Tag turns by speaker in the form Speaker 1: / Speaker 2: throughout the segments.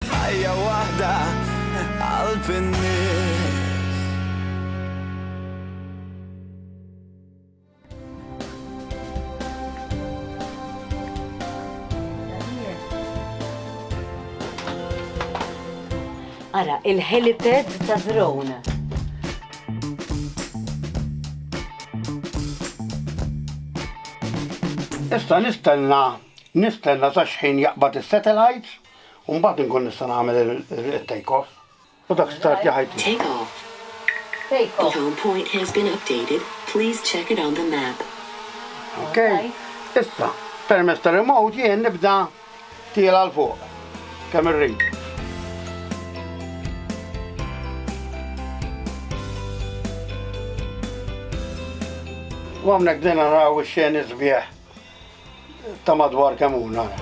Speaker 1: Ħajja waħda qalb in-nies.
Speaker 2: Ara, il-helipad ta' drone.
Speaker 3: Issa nistenna, nistenna sa xħin jaqbad is-satellites. U mbagħad inkun nista' nagħmel it-take off. U dak start li ħajt. Take off. Take off. The home point has been updated. Please check
Speaker 4: it on the map.
Speaker 3: Ok. Issa, permezz ta' remote jien nibda tiela' l fuq. Kemm irrid. U hawnhekk bdejna naraw ix-xeni sbieħ. ta' madwar kemm hu nara.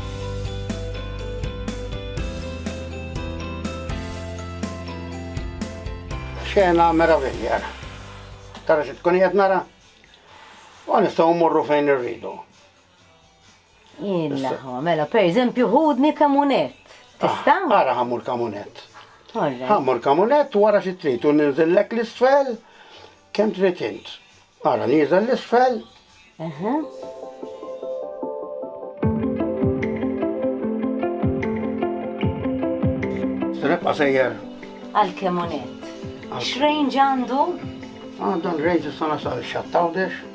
Speaker 3: Xena meravilja ara. Tara xi tkun qiegħed nara? U nistgħu mmorru fejn irridu. Illa,
Speaker 2: mela per eżempju ħudni kamunett. Tista'? Ah, ara ħammur kamunett.
Speaker 3: Ħammur
Speaker 2: kamunett
Speaker 3: wara xi trid u ninżillek l-isfel Kemm trid int? Ara nieżel l-isfel. Rebqa sejjer. Għal kemm unett?
Speaker 2: X'range għandu? Għandu
Speaker 3: range sa nasal xattawdex.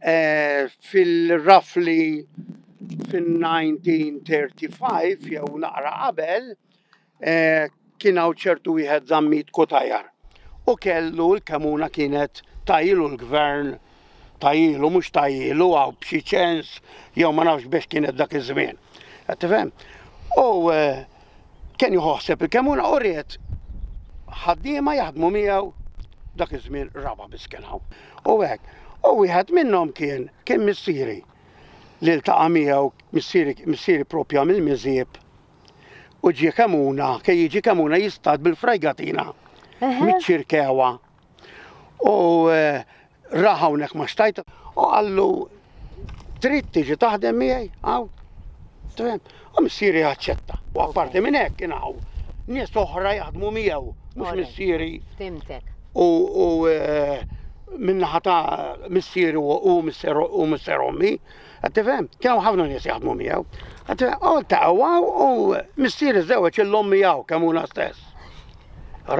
Speaker 3: Eh, fil-rafli fin-1935 jew naqra qabel eh, kien hawn ċertu wieħed żammit kutajar u kellu l-kemuna kienet tajilu l-gvern tajilu mhux tajilu għaw b'xi ċens jew ma nafx biex kienet dak iż-żmien. Qed tifhem? U eh, kien jħosseb il-kemuna u ried ħaddiema jaħdmu miegħu dak iż-żmien raba biss kien hawn. U hekk. U wieħed minnhom kien kien missieri li ltaqa' miegħu missieri propja mill-miżieb u ġie kemuna, kien jiġi kemuna jistad bil-frajgatina miċ-ċirkewa U eh, ra hawnhekk ma xtajt u qallu trid tiġi taħdem miegħi hawn. Tfhem? U missieri aċċetta. U apparti minn hekk kien hawn nies oħra jaħdmu miegħu, mhux missieri. Fimtek.
Speaker 2: U eh,
Speaker 3: minnaħa ta' missieri u missier ommi, għattifem, kjaw ħafna nies jaħdmu miegħu. Għattifem, u ta' għaw u missieri żewġ il-ommi għaw kemuna stess.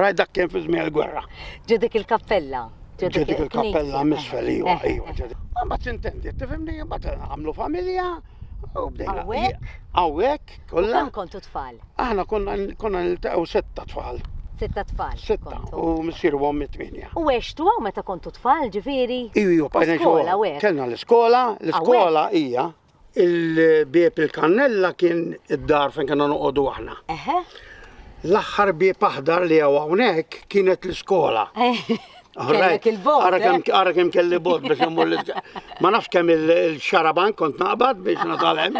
Speaker 3: Rajt dak kien fi żmien il-gwerra. Ġedik il-kappella.
Speaker 2: Ġedik il-kappella
Speaker 3: misfel, iwa, eh, eh, iwa. Eh. Ah, ma tintendi, tifimni, ma għamlu familja, u bdejna. Awek? Awek, kollha. Kemm kontu tfal?
Speaker 2: Aħna konna
Speaker 3: konna niltaqgħu setta tfal. Sitta tfal.
Speaker 2: Sitta, u
Speaker 3: missier u għommi tminja. U għextu għaw meta
Speaker 2: kontu tfal, ġifiri? Iju, iju, bajna xogħol.
Speaker 3: Kellna
Speaker 2: l-iskola,
Speaker 3: l-iskola hija. Il-bieb il-kannella kien id-dar fejn kena noqogħdu aħna. Eħe.
Speaker 2: L-aħħar
Speaker 3: bieb aħdar li għaw hawnhekk kienet l-iskola.
Speaker 2: Kellek il-bot. Ara kemm eh? ara kemm kelli
Speaker 3: bot biex immur l Ma nafx kemm il-xaraban kont naqbad biex natalem.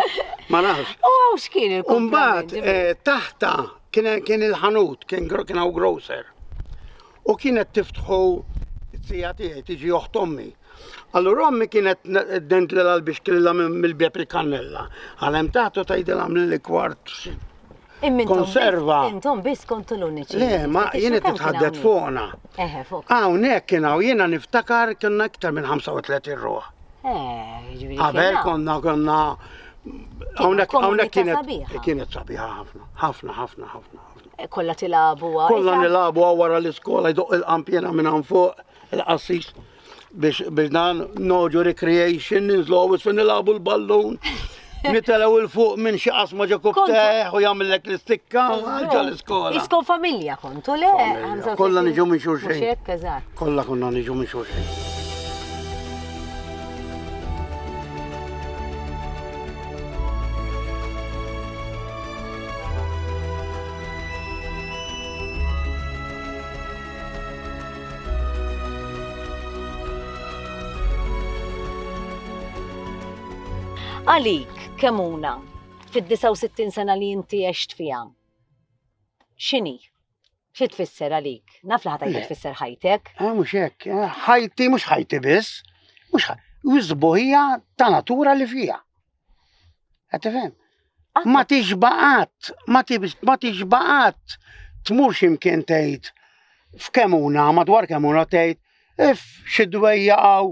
Speaker 3: Ma nafx. U għaw x'kien il
Speaker 2: Umbagħad eh,
Speaker 3: taħta kien il-ħanut, kien hawn grocer. U kienet tiftħu t-tija tiegħi tiġi oħt ommi. Allura ommi kienet dent lilha l-bixkilla mill-bieb il-kannella. Għalem taħt u tgħidilha li kwart konserva. Intom biss
Speaker 2: kontu l-uniċi. Le, ma jiena
Speaker 3: titħaddet fuqna. Eħe, fuq.
Speaker 2: Hawnhekk kien hawn jiena
Speaker 3: niftakar kienna iktar minn 35 ruħ. Eh, jiġifieri
Speaker 2: Qabel konna
Speaker 3: konna Hawnhekk kienet kienet
Speaker 2: sabiħa ħafna,
Speaker 3: ħafna, ħafna, ħafna.
Speaker 2: Kolla tilabu għara. Kolla
Speaker 3: nilabu għara l-iskola jdoq il-qampjena minn għan fuq il-qassis biex dan noġu recreation ninżlu għawis fin nilabu l-ballun. Nitelaw il-fuq minn xi qasma ġo kubteħ u jagħmellek l-istikka ġo l-iskola. Iskon familja
Speaker 2: kontu le? Kolla niġu minn
Speaker 3: xulxin. Kolla
Speaker 2: konna niġu minn
Speaker 3: xulxin.
Speaker 2: Għalik, kemuna, fid-69 sena li inti għext fija, xini? Xi tfisser għalik? Naf li ħatajt tfisser ħajtek. Eh, mhux hekk, eh,
Speaker 3: ħajti mhux ħajti biss, mhux wisbuħija ta' natura li fija. Qed tifhem? Ma tixbaqat, ma tixbaqat tmur x'imkien tgħid f'kemuna, madwar kemuna tgħid if xi dwejja għaw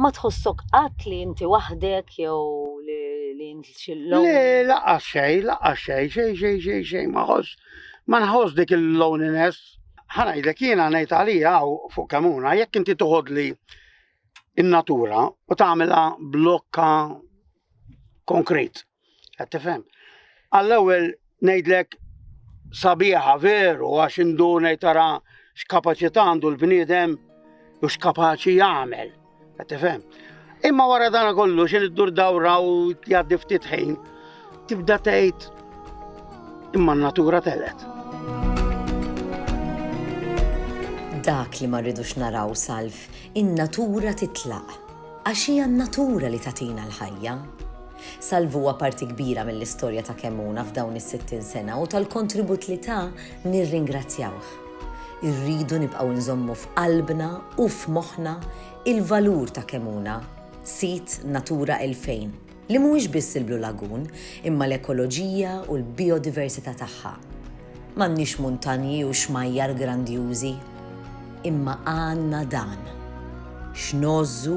Speaker 3: Ma
Speaker 2: tħossok qatt li inti waħdek jew li li inti xi Le, lonely? laqas xej,
Speaker 3: laqas xej, xej, xej, xej, xej, ma ħoss, ma nħoss dik il-loneliness. Ħanajdlek jiena ngħid għalija u fuq kemuna, jekk inti toħodli in-natura u tagħmilha blokka konkret. Qed tifhem? Għall-ewwel ngħidlek sabiħa veru għax indu ngħid tara x'kapaċità għandu l-bniedem u x'kapaċi jagħmel. Qed tifhem? Imma wara dan kollu xi iddur dawra u jgħaddi ftit ħin tibda tgħid imma n-natura telet.
Speaker 1: Dak li ma rridux naraw salf, in-natura titlaq. Għax hija n-natura li tatina l-ħajja. Salv huwa parti kbira mill-istorja ta' Kemmuna f'dawn is-sittin sena u tal-kontribut li ta nirringrazzjawh. Irridu nibqgħu nżommu f'qalbna u f'moħħna il-valur ta' Kemmuna, sit Natura 2000, li mhuwiex biss il-Blue Lagoon imma l-ekoloġija u l-bijodiversità tagħha. M'għandniex muntanji u xmajjar grandjużi, imma għandna dan. X'ngħożżu?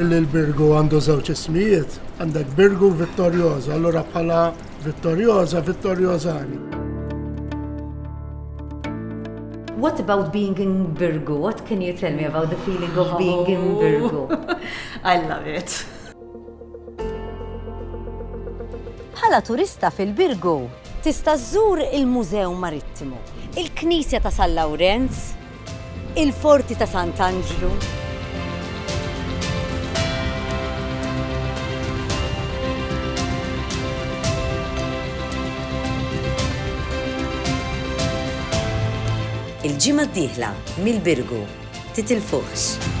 Speaker 5: Billi l-Birgu għandu żewġ ismijiet, għandek Birgu Vittorjoża, allura bħala Vittorjoża, Vittorjożani.
Speaker 2: What about being in Birgu? What can you tell me about the feeling of being in oh. Birgu? I love
Speaker 6: it.
Speaker 2: Bħala turista fil-Birgu, Tista' żżur il-Mużew Marittimu, il-Knisja ta' San Lawrenz, il-Forti ta' Sant'Anġlu,
Speaker 1: Il-ġimgħa d-dieħla, mill-Birgu, titilfuhx!